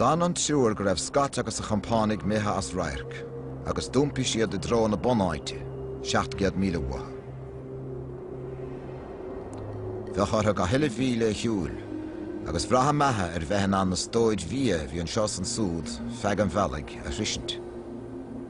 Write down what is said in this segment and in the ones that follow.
D'fhan an triúr go raibh Scott agus a chompánaigh imithe as radharc, agus d'iompaigh siad i dtreo na bunáite, seacht gcéad míle uathu. Bheadh orthu gach uile mhíle a shiúl, agus bhraith a mbeatha ar bheith in ann na stóir bhia a bhí anseo is ansúd feadh an bhealaigh a shroisint.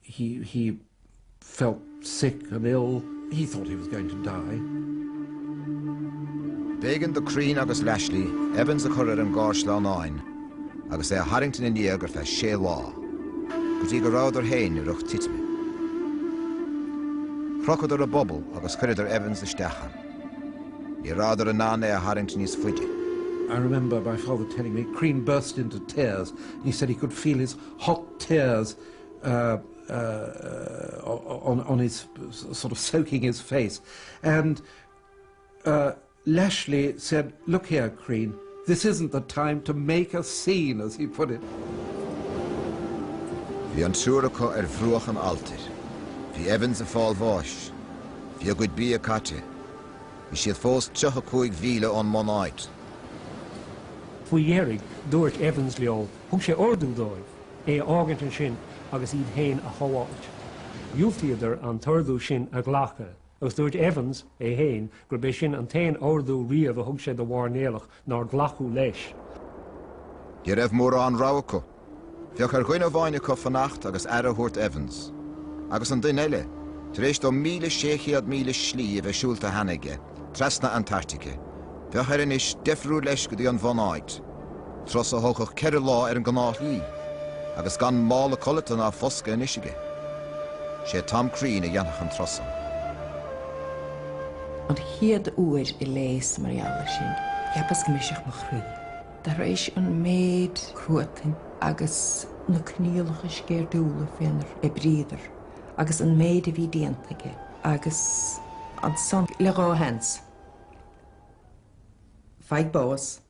he he felt sick and ill he thought he was going to die B'éigean do Crean agus Lashly Evans a chur ar an gcarr sleamhnáin agus é a tharraingt ina ndiaidh ar feadh sé lá, go dtí go rabhadar féin i riocht titime. Chrochadar a bpuball agus chuireadar Evans isteach ann. Ní rabhadar in ann é a tharraingt níos faide. I remember my father telling me Crean burst into tears and he said he could feel his hot tears on his sort of soaking his face and Lashly said, look here, Crean, this isn't the time to make a scene, as he put it. Bhí an triúr acu ar bhruach an alltair. Bhí Evans ag fáil bháis. Bhí a gcuid bia caite. Bhí siad fós tríocha cúig mhíle ón mbunáit. Faoi dheireadh, dúirt Evans leo, thug sé ordú dóibh é a fhágaint ansin agus iad féin a shábháilt. Dhiúltaíodar an t-ordú sin a ghlacadh, agus dúirt Evans, é féin, gurb é sin an t-aon ordú riamh a thug sé do mhairnéalach nár glacadh leis. Ní raibh mórán rogha acu. Bheadh ar dhuine amháin acu fanacht agus aire a thabhairt d'Evans, agus an duine eile, tar éis dó 1,600 míle slí a bheith siúlta cheana aige, trasna Antartaice, bheadh air anois deifriú leis go dtí an bhunáit. Turas a thógfadh ceithre lá ar an gnáthshlí, agus gan mála codlata ná foscadh anois aige. Sé Tom Crean a dhéanfadh an turas san. An chéad uair a léas mar gheall air sin, cheapas go mbrisfeadh mo chroí. Tar éis an méid cruatain agus na coinníollacha sceirdiúla fénar oibríodar, agus an méid a bhí déanta aige, agus ansan le dhá sheans, faigh bás.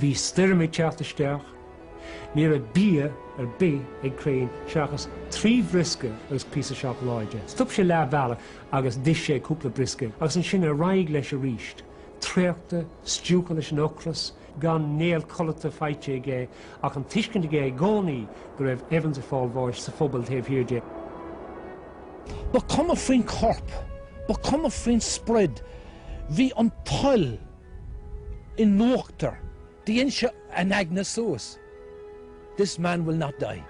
Bhí stoirm ag teacht isteach. Ní raibh bia ar bith ag Crean seachas trí bhriosca agus píosa seacláide. Stop sé leath bealaigh agus d'ith sé cúpla briosca agus ansin ar aghaidh leis arís, traochta, stiúgtha leis an ocras, gan néal codlata faighte aige ach an tuiscint aige i gcónaí go raibh Evans ag fáil bháis sa phuball taobh thiar de. Ba cuma faoin gcorp. Ba cuma faoin sprid. Bhí an toil. in uachtar, dhein sé a aigne suas, This man will not die.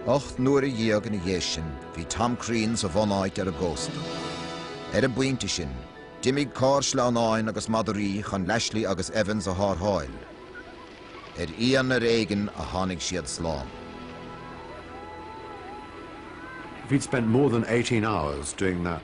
Ocht n-uaire dhéag ina dhiaidh sin, bhí Tom Crean sa bhunáit ar an gcósta. Ar an bpointe sin, d'imigh carr sleamhnáin agus madraí chun Lashly agus Evans a tharrtháil. Ar inn ar éigin a tháinig siad slán. If he'd spent more than eighteen hours doing that.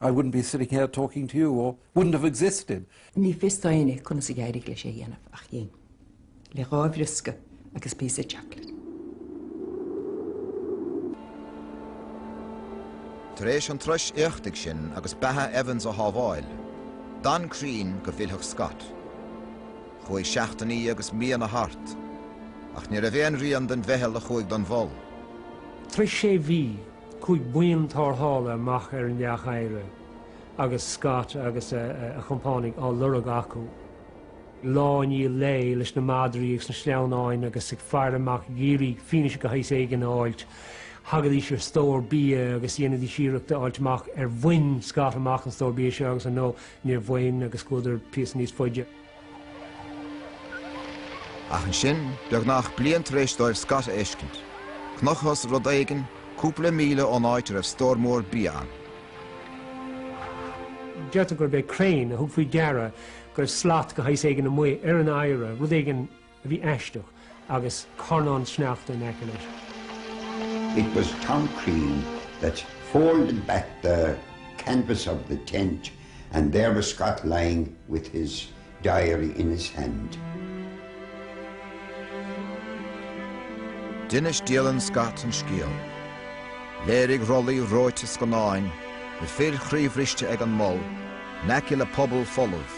I wouldn't be sitting here talking to you or wouldn't have existed. Ní fios d'éinne conas a d'éirigh leis é a dhéanamh ach dhein le dhá bhriosca agus píosa chocolate. Tar éis an turais éachtaigh sin agus beatha Evans a shábháil, d'fhan Crean go bhfillfeadh Scott. Chuaigh seachtainí agus míonna thart, ach ní raibh aon rian den mheitheal a chuaigh don mhol. Tar éis sé mhí chuaigh buíon tarrthála amach ar an leac oighre agus Scott agus a chompánaigh á lorg acu lá i ndiaidh lae leis na madraí agus na sleamhnáin agus ag faire amach ag iarraidh fianaise de shaghas éigin a fháilt. Thagaidís ar stór bia agus dhéanaidís iarracht a fháilt amach ar bhain Scott amach an stór bia seo agus ar ndóigh níor bhain agus chuadar píosa níos faide. Ach ansin, beagnach bliain tar éis dóibh Scott a fheiscint, chonacthas rud éigin cúpla míle ón áit a raibh stór mór bia ann. Deirtear gurb é Crean a thug faoi deara go raibh slat de shaghas éigin amuigh ar an oighre, rud éigin a bhí aisteach agus carnán sneachta in aice leis. It was Tom Crean that folded back the canvas of the tent and there was Scott lying with his diary in his hand. D'inis dialann Scott an scéal. Léirigh rollaí reoite scannáin, na fir chroíbhriste ag an mol, in aice le puball folamh,